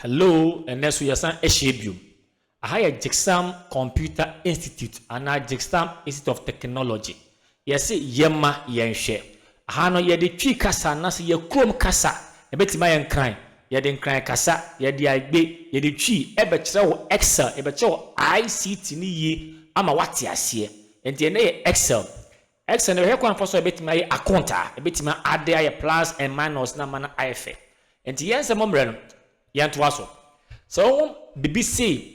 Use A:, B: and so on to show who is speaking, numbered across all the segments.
A: Hello, ɛnɛ so yɛsan ahyia biom. Aha yɛ Jigsam Computer Institute anaa Jigsam Institute of Technology. Yɛse yɛma yɛnhwɛ. Aha no yɛde Twi kasa anaasɛ yɛ kurom kasa ɛbɛtumi ayɛ Nkran. Yɛde Nkran kasa, yɛde Agbe, yɛde Twi ɛbɛkyerɛ wo Excel, yɛbɛkyerɛ wo ICT no yie ama woate aseɛ. Enti ɛnnɛ yɛ Excel. Excel no yɛhwɛ kwan fa so a yɛbɛtumi ayɛ akontaa, yɛbɛtumi ade ayɛ plus and minus na ama no ayɛ fɛ. Enti yɛn nsɛm mmerɛ no, yɛntoa so. Sɛ wohu biribi sei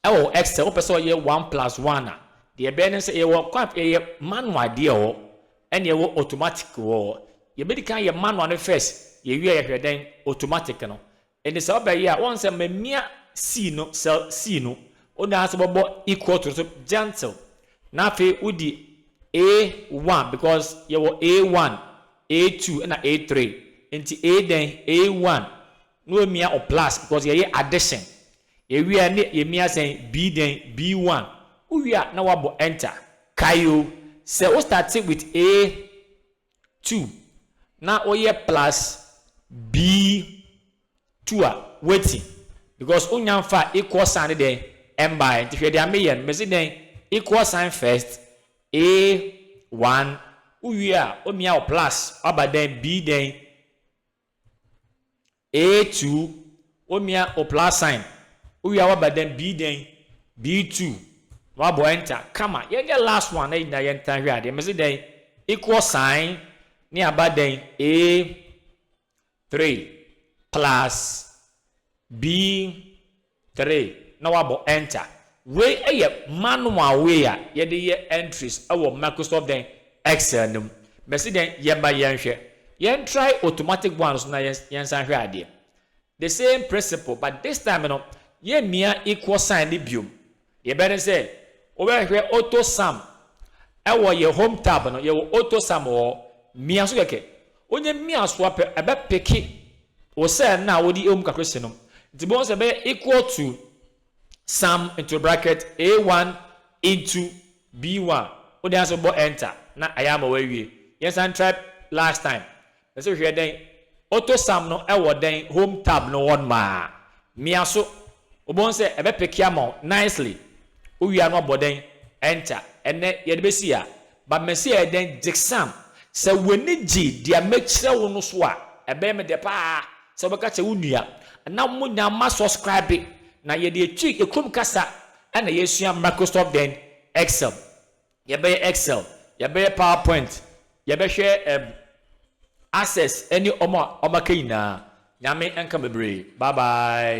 A: wɔ Excel, wopɛ sɛ ɔyɛ one plus one a, deɛ ɛbɛyɛ ne sɛ yɛwɔ kwan, yɛyɛ manual deɛ wɔ hɔ, ɛne ɛwɔ automatic wɔ hɔ. Yɛbɛdi kan yɛ manual no first, yɛwie a yɛhwɛ dɛn, automatic no. Enti sɛ ɔbɛ yɛ a wɔn sɛ mɛ mia sii no sɛ sii no o naa sɛ bɔbɔ equal to no so gentle na afe wo di a one because yɛ wɔ a one a two ɛna a three enti a dɛn a one na wɔ mia o plus because yɛ yɛ addition yɛ wie a ne yɛ mia sɛn b dɛn b one wo wie a na wɔ abɔ enter kae o sɛ wo start with a two na woyɛ plus B two a wati because wonya mfa equal sign ne dɛn ɛmbae nti hwɛ deɛ meyɛ no mese dɛn equal sign first A one wowie a womia wo plus waba dɛn B dɛn A-tuu, Onua Oplasain, owia waba dɛn, bii dɛn, B-tuu, na wabɔ enter, kama, yɛnyɛ last one na yɛ nyinaa yɛntaa hwɛ adeɛ, mese dɛn, equal sign, ne aba dɛn, A, three, plus, B, Three, na woabɔ enter. Wei yɛ manual way a yɛde yɛ entries wɔ Microsoft dɛn? Excel no mu. Mɛse dɛn? Yɛmma yɛnhwɛ. Yɛn try automatic one no so na yɛnsan nhwɛ adeɛ. The same principle but this time no yɛmmia equal sign no biom. Deɛ ɛbɛ ne sɛ, wobɛhwɛ Auto Sam wɔ yɛ Home tab no, yɛwɔ Auto Sam wɔ hɔ, mia so kɛkɛ. Wonyɛ mia so a pɛ, ɛbɛ peke wo cell no a wode wɔ mu kakra si no. Nti wobɛhu sɛ ɛbɛyɛ equal to Sam into bracket A1 into B1. Wode answer wobɔ enter na ayɛ ama woawie. Yɛnsan try last time. Ɔse hwɛ dɛn Auto Sam no wɔ dɛn home tab no wɔn maa mia so wobɛhu sɛ ɛbɛ peke ama wo nicely wowie a na wabɔ dɛn enter ɛnɛ yɛde bɛsi a but mɛse ɛyɛ dɛn Gyksam sɛ w'ani gye deɛ mɛkyerɛ wo no so a ɛbɛyɛ me dɛ paa sɛ wobɛka kyerɛ wo nua na mo nya ma subscribe na yɛde atwi yɛ kurom kasa ɛna yɛsua Microsoft dɛn Excel Yɛbɛyɛ Excel, yɛbɛyɛ Power Point, yɛbɛhwɛ ɛb Access ɛne ɔmo a ɔmo aka nyinaa. Nyame nka bebree. Bye bye.